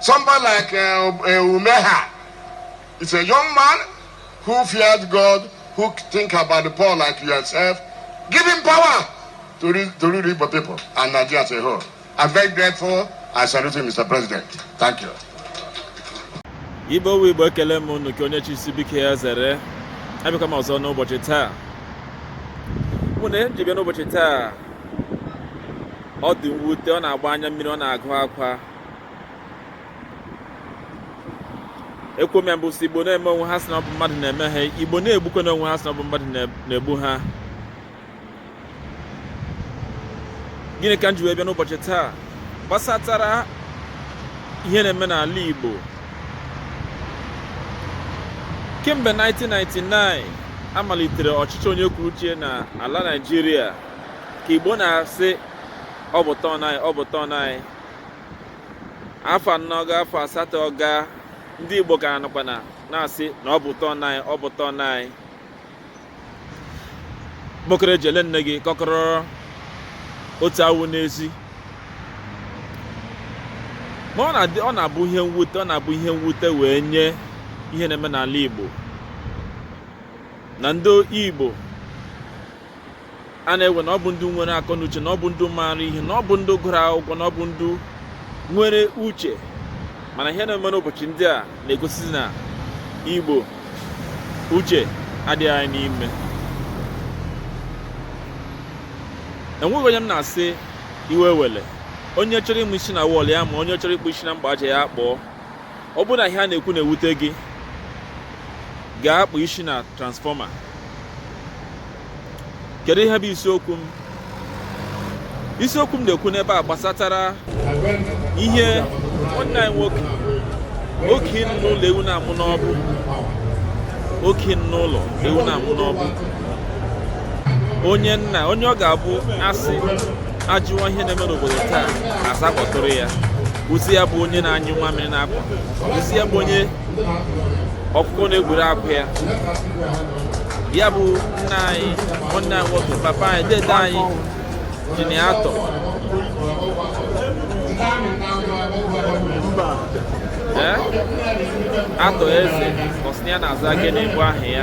Somebody like uh, uh, Umahi is a young man who fears God, who think about the poor like yourself. Give him power to lead, to lead Igbo people and Nigeria as a whole. I'm very grateful. I salute you, Mr. President. Thank you. Igbo wu Igbo ekele m unu nke onye chisi biko ya zere abịakwa m ọzọ n'ụbọchị taa mana ihe m ji bịa n'ụbọchị taa ọ dị mwute ọ na-agba anya mmiri ọ na-agụ akwa ekwuo m ya mbụ sị igbo na-eme onwe ha sị na ọ bụ mmadụ na-eme ha igbo na-egbukwanụ onwe ha sị na ọ bụ mmadụ na-egbu ha gịnị ka m ji wee bịa n'ụbọchị taa gbasatara ihe na-eme n'ala igbo kemgbe 1999 a malitere ọchịchị onye kwuru uche na ala naịjirịa ka igbo na-asị ọ bụ turn anyị ọ bụ turn anyị afọ anọ gaa afọ asatọ gaa ndị igbo ka nọkwa na na-asị na ọ bụ turn anyị ọ bụ turn anyị kpọkọrọ eji ele nne gị kọkọrọ otu awụ n'ezi ma ọ na-abụ ihe mwute ọ na-abụ ihe mwute wee nye ihe na-eme n'ala igbo na ndị igbo a na-ewe na ọ bụ ndị nwere akọ na uche na ọ bụ ndị maara ihe na ọ bụ ndị gụrụ akwụkwọ na ọ bụ ndị nwere uche mana ihe na-eme n'ụbọchị ndị a na-egosi na igbo uche adịghị anyị n'ime enweghị onye m na-asị iwe ewele onye chọrọ ịma isi na wall ya maa onye chọrọ ịkpọ isi na mgba aja ya kpọọ ọ bụrụ na ihe a na-ekwu na-ewute gị gaa kpọọ isi na transformer kedu ihe bụ isiokwu m isiokwu m na-ekwu n'ebe a gbasatara ihe nwanne anyị nwoke okii nọ n'ụlọ ewu na-amụ n'ọgbụ okii nọ n'ụlọ ewu na-amụ n'ọgbụ onye nna onye ọ ga-abụ a sị a jụọ ihe na-eme n'obodo taa a sị a kpọtụrụ ya ozi ya bụ onye na-anyụ nwa mmiri n'akwa ozi ya bụ onye ọkụkọ na-egburu akwa ya ya bụ nna anyị nwanne anyị nwoke papa anyị dede anyị engineer Arthur Arthur Eze ọ sị na ya na-aza gịnị bụ aha ya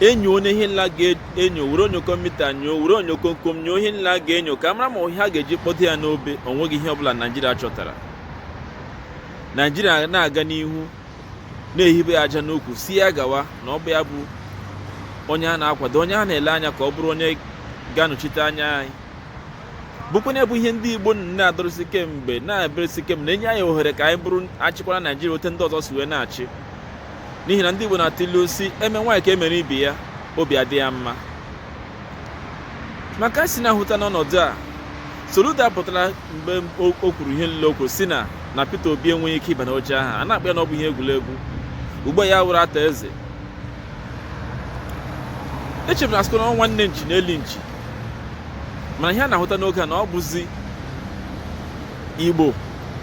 enyo onye ihe nile a ga-enyo were onyokomita nyoo were onyo komkom nyoo ihe nile a ga-enyo ka mara ma ihe a ga-eji kpọdo ya n'obe onweghị ihe ọbụla naijiria chọtara naijiria na-aga n'ihu na-ehibe ya aja n'ukwu si ya gawa na ọ bụ ya bụ onye a na-akwado onye a na-ele anya ka ọ bụrụ onye ga-anọchite anya anyị bụkwanụ ya bụ ihe ndị igbo na-adọrọsi kemgbe na-eberesi kemgbe na-enye anyị ohere ka anyị bụrụ achịkwara naijiria otu ndị ọzọ si wee na-achị n'ihi na ndị Igbo na-atụ ilu si eme nwaanyị ka emere ibe ya obi adị ya mma maka si na-ahụta n'ọnọdụ a Soludo pụtara mgbe o kwuru ihe nile o kwu si na Peter Obi enweghị ike ịba n'oche ahụ a na-akpọ ya na ọ bụ ihe egwuregwu ugbo ya wụrụ ata eze echebu na asụkọ na nwanne nchi na-eli nchi mana ihe a na-ahụta n'oge a na ọ bụzi Igbo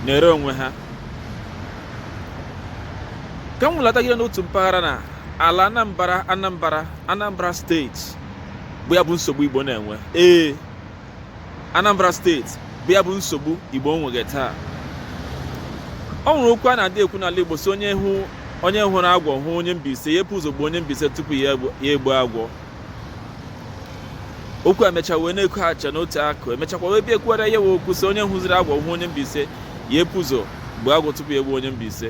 na-ere onwe ha ka m nwụlatagide n'otu mpaghara na ala anambra anambra anambra steeti bụ ya bụ nsogbu igbo na-enwe ee anambra steeti bụ ya bụ nsogbu igbo nweghe taa o nwere okwu a na-adị ekwu n'ala igbo si onye hụ onye hụrụ agwọ hụ onye mbaise ya epu ụzọ gbuo onye mbaise tupu ya egbu agwọ okwu emecha wee na-eku acha n'otu akụ emechakwa wee bịa ekwugharịa ya wee kwuo si onye hụziri agwọ hụ onye Mbaise ya epu ụzọ gbuo agwọ tupu ya egbu onye Mbaise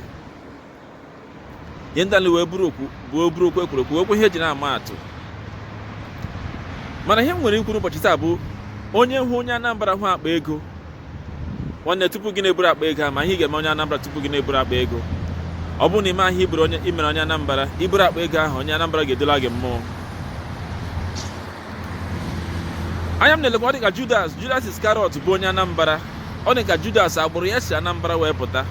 ihe ndị a nile wee bụrụ okwu bụ ọ bụrụ okwu ekwuru ekwu okwu ihe eji na-ama atụ mana ihe m nwere ikwu n'ụbọchị taa bụ onye hụ onye Anambra hụ akpa ego nwanne tupu gị na-eburu akpa ego ma ihe ị ga-eme onye Anambra tupu gị na-eburu akpa ego ọ bụrụ na imeghị ihe imere onye Anambra iburu akpa ego ahụ onye Anambra ga-edula gị mmụọ anya m na-elekwa ọ dị ka Judas Judas Iskarịọt bụ onye Anambra ọ dị ka Judas agbụrụ ya si Anambra wee pụta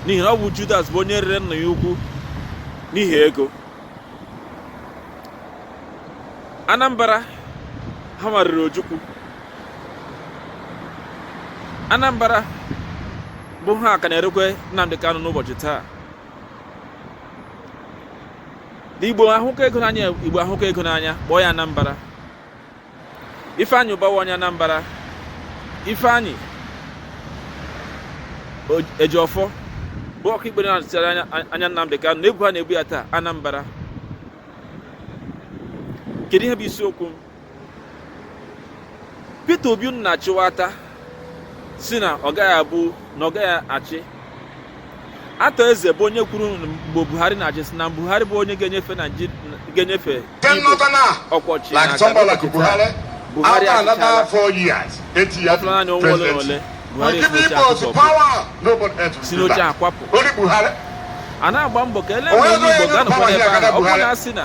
n'ihi na ọ bụ Judas bụ onye rere nna ya ukwu n'ihi ego Anambra hanwa rere Ojukwu Anambra bụ ha ka na-erekwa Nnamdi Kanu n'ụbọchị taa Igbo ahụka ego n'anya Igbo ahụka ego n'anya kpọọ ya Anambra Ifeanyi Ubah wụ onye Anambra Ifeanyi Ejiofor bụ ọka ikpe na-anọchitere anya Nnamdi Kanu na ebu ha na-ebu ya taa Anambra kedu ihe bụ isiokwu m Peter Obi unu na-achịwata si na ọ gaghị abụ na ọ gaghị achị Arthur Eze bụ onye kwuru mgbe Buhari na-achị si na Buhari bụ onye ga-enyefe ga-enyefe ọkwa ọchịchị Buhari achịchala ọ fọla naanị ọnwa ole na ole Buhari si n'oche akwapụ a na-agba mbọ ka ele onye Igbo ga-anọkwa n'ebe ahụ ọ bụrụ na a sị na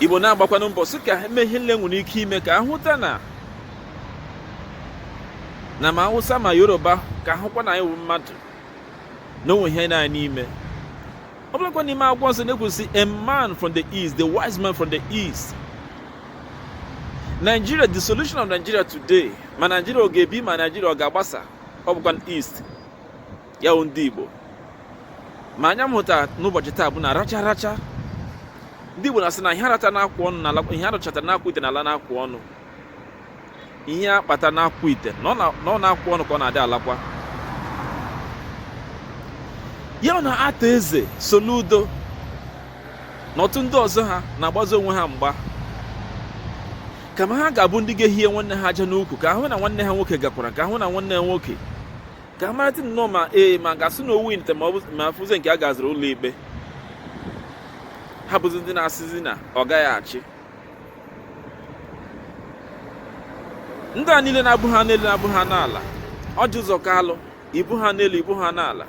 igbo na-agbakwanụ mbọ sị ka e mee ihe niile nwere ike ime ka a hụta na na ma awụsa ma yoruba ka a hụkwa na anyị wụ mmadụ na o nwe ihe dị anyị n'ime ọ bụlakwa n'ime akwụkwọ nsọ na-ekwu sị a man from the east the wise man from the east Nigeria the solution of Nigeria today ma Nigeria ọ ga-ebi ma Nigeria ọ ga-agbasa ọ bụkwa east ya bụ ndị Igbo ma anya m hụta n'ụbọchị taa bụ na racha racha ndị Igbo na-asị na ihe a rata n'akụkụ ọnụ na-ala ihe a rachata n'akụkụ ite na-ala n'akụkụ ọnụ ihe a kpata n'akụkụ ite na ọ n'akụkụ ọnụ ka ọ na-adị alakwa ya na Arthur Eze Soludo na otu ndị ọzọ ha na-agbazi onwe ha mgba kama ha ga-abụ ndị ga-ehie nwanne ha aja n'ukwu ka a hụ na nwanne ha nwoke gakwara ka a hụ na nwanne ha nwoke ka a maratị nnọọ ma ee ma a ga-asị na o winite ma afụzi nke a gaziri ụlọ ikpe ha bụzi ndị na-asịzi na ọ gaghị achị ndị a niile na-abụghị anụ elu na-abụghị anụ ala Orji Uzor Kalu ị bụghị anụ elu ị bụghị anụ ala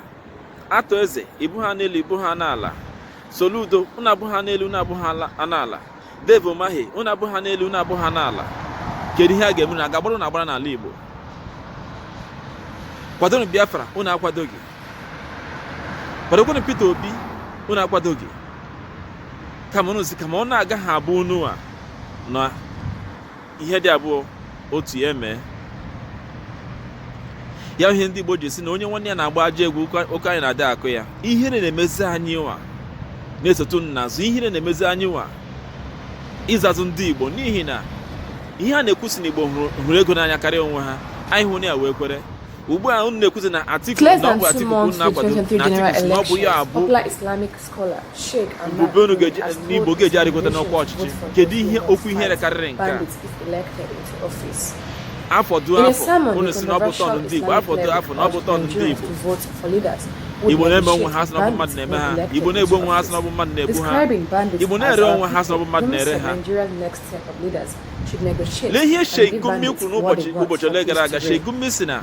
Arthur Eze ị bụghị anụ elu ị bụghị anụ ala Soludo unu abụghị anụ elu unu abụghị anụ ala Dave Umahi unu abụghị anụ elu unu abụghị anụ ala kedu ihe a ga-eme na a ga-agbara unu agbara n'ala Igbo kwadonụ Biafra unu akwadoghị kwadokwanụ Peter Obi unu akwadoghị kama unu si kama ọ na-agaghị abụ unu anwụọ ihe dị abụọ otu ya emee ya ihe ndị Igbo ji si na onye nwanne ya na-agba ajọ egwu ọkọ anya na-adị akọ ya ihere na-emezi anyị nwa na-esotu unu n'azụ ihere na-emezi anyị nwa ịzazị ndị Igbo n'ihi na ihe a na-ekwu sị na Igbo hụrụ ego n'anya karịa onwe ha anyị ahụna ya wee kwere ugbu a unu na-ekwuzi na Atiku na ọ bụ Atiku unu na-akwado na Atiku na ọ bụ ya abụ mbube unu ndị Igbo ga-eji arịgota n'ọkwa ọchịchị kedu ihe okwu ihere karịrị nke a afọ duo afọ unu si na ọ bụ turn ndị Igbo afọ duo afọ na ọ bụ turn ndị Igbo Igbo na-eme onwe ha sị na ọ bụ mmadụ na-eme ha igbo na-egbu onwe ha sị na ọ bụ mmadụ na-egbu ha igbo na-ere onwe ha sị na ọ bụ mmadụ na-ere ha lee ihe Sheikh Gumi kwuru n'ụbọchị ole gara aga Sheikh Gumi si na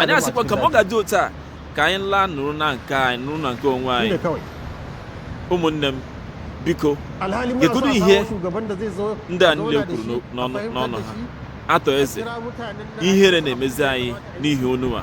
anyị asịkwa kama ọ ga-adị otu a ka anyị laa nọrọ na nke anyị nọrọ na nke onwe anyị ụmụnne m biko gegodu ihe ndị a niile kwuru n'ọnụ ha atọ eze ihere na-emezi anyị n'ihi unu nwa